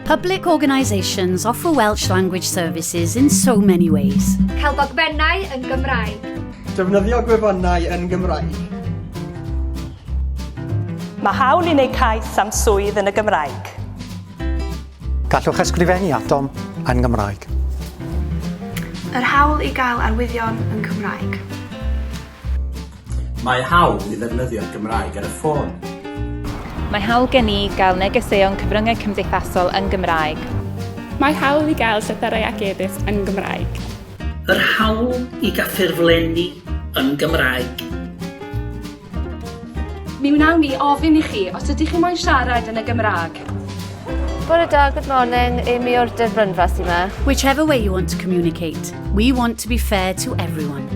Public organisations offer Welsh language services in so many ways. Cael dogfennau yn Gymraeg. Defnyddio gwefannau yn Gymraeg. Mae hawl i wneud cais am swydd yn y Gymraeg. Gallwch ysgrifennu atom yn Gymraeg. Yr hawl i gael arwyddion yn Cymraeg. Mae hawl i ddefnyddio'r Gymraeg ar y ffôn. Mae hawl gen i gael negeseuon cyfryngau cymdeithasol yn Gymraeg. Mae hawl i gael llythyrau ac e-byst yn Gymraeg. Yr hawl i gaffurflenni yn Gymraeg. Mi wnawn ni ofyn i chi os ydych chi moyn siarad yn y Gymraeg. Bore da, good morning. Amy o'r Dyfrynfa sy'n ma. Whichever way you want to communicate, we want to be fair to everyone.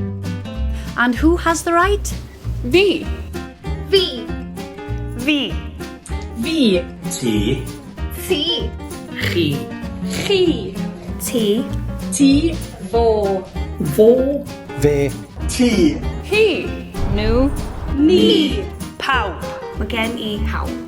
And who has the right? Fi. Fi. Fi. Fi. Ti. Ti. Chi. Chi. Ti. Ti. Fo. Fo. Fe. Ti. Hi. Nhw. Ni. Pawb. Mae gen i pawb.